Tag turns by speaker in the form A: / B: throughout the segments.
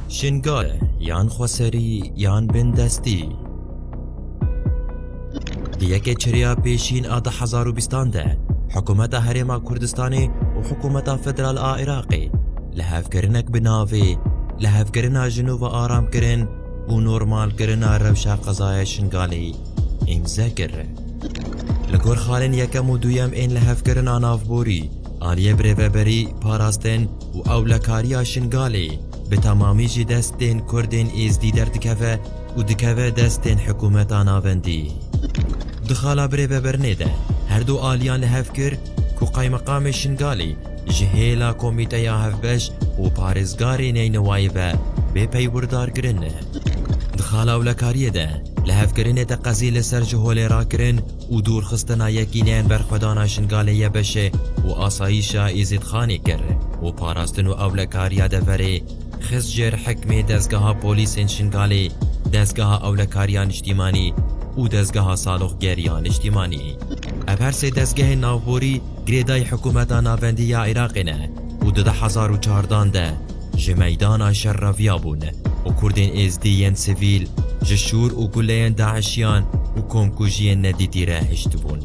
A: Şingale yan xweserî yan bindestî. Di yekê çiriya pêşîn a di hezar û bîstan de Hikûmeta Herêma Kurdistanê û Hikûmeta Federal a Iraqê li hevkirinek bi navê li hevkirina jinûva aramkirin û normalkirina rewşa qezaya Şingalê îmze kir. Li gor xalên yekem û duyem ên li hevkirina navborî aliyê birêveberî parastin û ewlekariya Şingalê bi temamî ji destên Kurdên Êzdî derdikeve û dikeve destên hikumeta navendî. Di xala birê vebirnê de her du aliyan li hev kir ku Qaymeqamê Şingalê ji hêla komîteya hevbeş û parêzgarê Neynewayê ve bê peywrdar kirin. Di xala ewlekariyê de li hevkirinê teqezî li ser ji holê rakirin û dûrxistina yekîneyên berxwedana Jingalê Yebeşê û asayîşa Êzîdxanê kir û parastin û ewlekariya deverê xist jêr hikmê Dezgeha Polîsên Şingalê, Dezgeha Ewlekariya Niştîmanî û Dezgeha Saloqgeriya Niştîmanî. Ev her sê dezgehên navborî girêdayî hikûmeta navendî ya Iraqê ne û di du hezar û çardan de, ji meydana şer reviyabûn û Kurdên Êzdî yên sivîl ji şûr û guleyên DAIŞiyan û komkujiyên nedîtî re hiştibûn.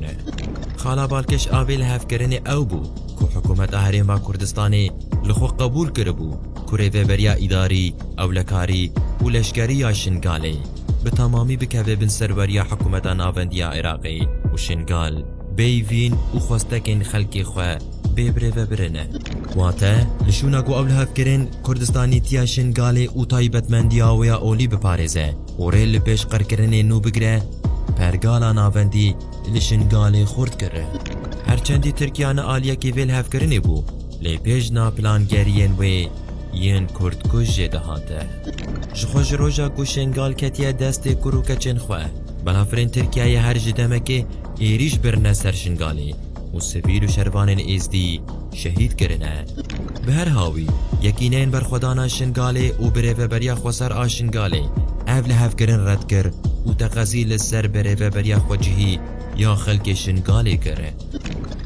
A: Xala Balkeş avê li hevkirinê ew bû ku Hikûmeta Herêma Kurdistanê li xwe qebûl kiribû ku rêveberiya îdarî, ewlekarî û leşkerî ya Şingalê bi temamî bikeve bin serweriya Hikûmeta Navendî ya Iraqê û Şingal bêyî vîn û xwestekên xelkê xwe Bê birê ve birine. Wate, li şûna ku ew li hev kirin, kurdistanîtiya Şingalê û taybetmendiya wê ya olî biparêze û rê li pêşqirkirinê nû bigire, pergala navendî li Şingalê xurt kir. Her çendî Tirkiya ne aliyekî vê li hev kirinê bû, lê pêjna plangeriyên wê yên kurdkuj jê dihate. Ji xwe ji roja ku Şingal ketiye destê kur û keçên xwe, balafirên Tirkiyeyê her ji demekê êrîş birine ser Şingalê. û sivîl û şervanên Êzdî şehîd kirine. Bi her hawî, Yekîneyên Berxwedana Şingalê û Birêveberiya Xweser a Şingalê ev lihevkirin red kir û teqezî li ser birêveberiya xwecihî ya xelkê Şingalê kir.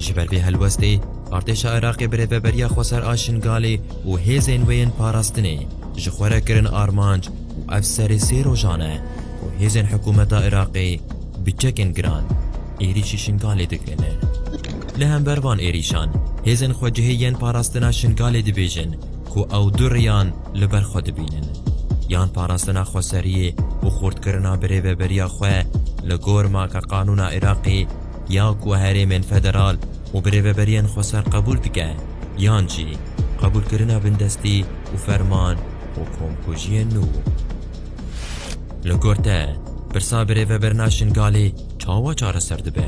A: Ji ber vê helwestê, Artêşa Iraqê Birêveberiya Xweser a Şingalê û hêzên wê yên parastinê ji xwe re kirin armanc û ev serê sê rojan e ku hêzên hikûmeta Iraqê bi çekên giran êrîşî Şingalê dikin. Li hember van êrîşan hêzên xwecihê yên parastina Şingalê dibêjin ku ew du riyan li ber xwe dibînin, yan parastina xweseriyê û xurtkirina birêveberiya xwe li gor makeqanûna Iraqê ya ku herêmên federal û birêveberiyên xweser qebûl dike yan jî qebûlkirina bindestî û ferman û komkujiyên nû. Li gor te, pirsa birêveberina Şingalê çawa çareser dibe?